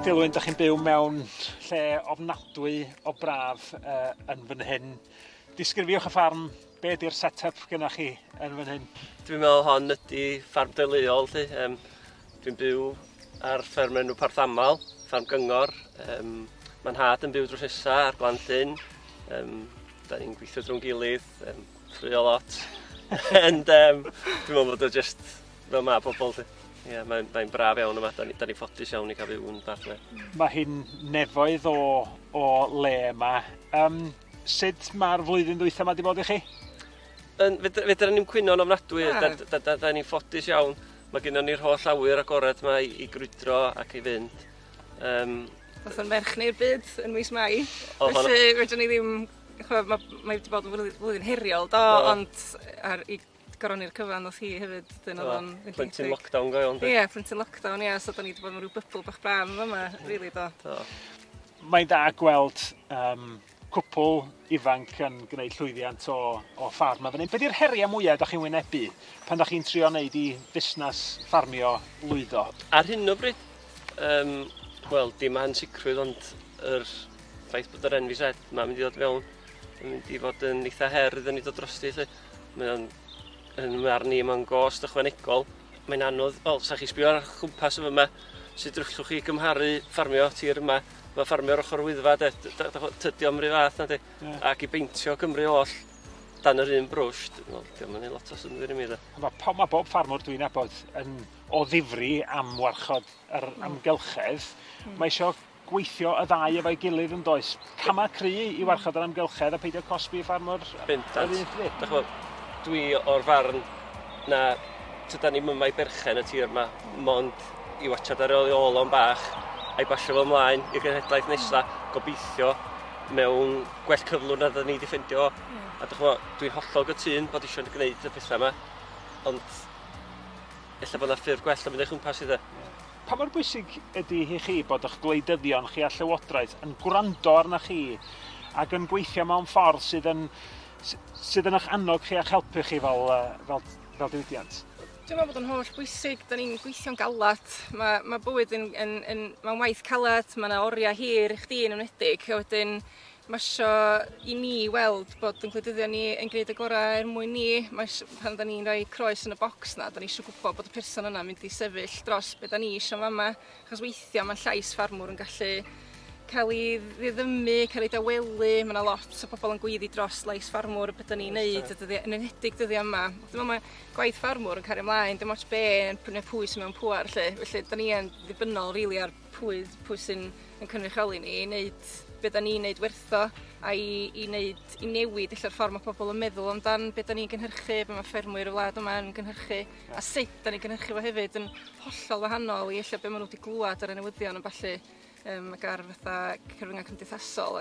Dilwyn, da chi'n byw mewn lle ofnadwy o braf uh, yn fan hyn. Disgrifiwch y ffarm Be di'r set-up gyda chi yn fan hyn? Dwi'n meddwl hon ydy ffarm deuluol lly. Um, dwi'n byw ar fferm enw Parthamal, ffarm gyngor. Um, Mae'n had yn byw drwy Rhesa ar Glan Llyn. Um, da ni'n gweithio drwy'n gilydd, um, ffrio lot. And um, dwi'n meddwl bod o just fel mae pobl lly. Ie, yeah, mae'n mae braf iawn yma, da ni'n ni, ni ffodus iawn i cael byw yn fath le. Mae hi'n nefoedd o, o le yma. Um, Sut mae'r flwyddyn ddwytha ma di bod i chi? Yn, fedra, fedra ni'n cwyno'n ofnadwy, ah. da, da, da, da ni'n ffodus iawn. Mae gennym ni'r holl awyr agored yma i, i grwydro ac i fynd. Um, Oedd yn merch neu'r byd yn mis Mai. Oh, Felly, fedra ni ddim... Mae wedi bod yn flwyddyn heriol, do, oh. ond ar, i goron i'r cyfan nath hi hefyd wedyn o'dd o'n mynd i... Plentyn lockdown go iawn 'de? Ie plentyn lockdown ie so 'dan ni 'di bod mewn ryw bybl bach braf yn fama rili do. Do. Mae'n dda gweld um, cwpl ifanc yn gwneud llwyddiant o, o ffarm a fan hyn. Be di'r heriau mwyaf ydych chi'n wynebu pan ydych chi'n trio wneud i fusnes ffarmio lwyddo? Ar hyn o bryd, um, wel, dim ansicrwydd ond yr ffaith bod yr NVZ mae'n mynd i ddod mewn yn mynd i fod yn eitha her iddyn ni dod drosti lle. Mae o'n, yn marn i, mae'n gost ychwanegol. Mae'n anodd, wel, sa chi sbio ar chwmpas yn yma, sut drwllwch chi gymharu ffarmio tir yma, mae ffarmio'r ochr wyddfa, de, tydio am rhyw fath na di, yeah. ac i beintio Cymru oll dan yr un brwsh, dwi'n mynd i lot o syndwyr i mi da. Mae po, ma bob ffarmwr dwi'n abod yn o ddifri am warchod yr hmm. amgylchedd. Mm. Mae eisiau gweithio y ddau efo'i gilydd yn does? Camau cry i warchod yr amgylchedd a peidio cosbi ffarmwr yr un ffryd. Dwi o'r farn na tyda ni mymau berchen y tir yma, mond i watchad ar ei ôl o'n bach, a'i basio fo ymlaen i'r genhedlaeth nesa, gobeithio mewn gwell cyflwr na dda ni wedi ffeindio. Mm. A dych chwa, dwi'n hollol gytun bod eisiau gwneud y pethau yma, ond efallai bod yna ffurf gwell o mynd eich chwmpas i dde. Yeah. Pa mor bwysig ydy hi chi bod eich gwleidyddion chi a Llywodraeth yn gwrando arnoch chi ac yn gweithio mewn ffordd sydd yn, sydd yn eich annog chi a'ch helpu chi fel, fel, fel diwydiant? Dwi'n meddwl bod o'n holl bwysig, da ni'n gweithio'n galed, mae, mae bywyd yn, yn, yn, mae'n waith caled, mae yna oriau hir i chdi yn ymwneud, wedyn Mae isio i ni weld bod yn gwleidyddion ni yn gwneud y gorau er mwyn ni. Mae isio, pan da ni'n rhoi croes yn y bocs na, da ni eisiau gwybod bod y person yna mynd i sefyll dros beth da ni eisiau yn fama. Chos weithiau mae'n llais ffarmwr yn gallu cael ei ddiddymu, cael ei dawelu. Mae yna lot o bobl yn gweiddi dros lais ffarmwr a beth da ni'n neud, yn enedig dyddiau yma. Dwi'n meddwl mae gwaith ffarmwr yn cario ymlaen, dim ots be, neu pwy sy'n mewn pŵar, lle. Felly, da ni yn ddibynnol, rili, really, ar pwy pwy sy'n yn cynrychioli ni i wneud be da ni'n wneud wertho a i, i, wneud, i newid ella'r ffordd mae pobl yn meddwl amdan be da ni'n gynhyrchu, be mae ffermwyr y wlad yma yn gynhyrchu a sut da ni'n gynhyrchu fo hefyd yn hollol wahanol i ella'r be maen nhw wedi glwad ar y newyddion yn falle um, ac ar fatha cyfryngau cymdeithasol.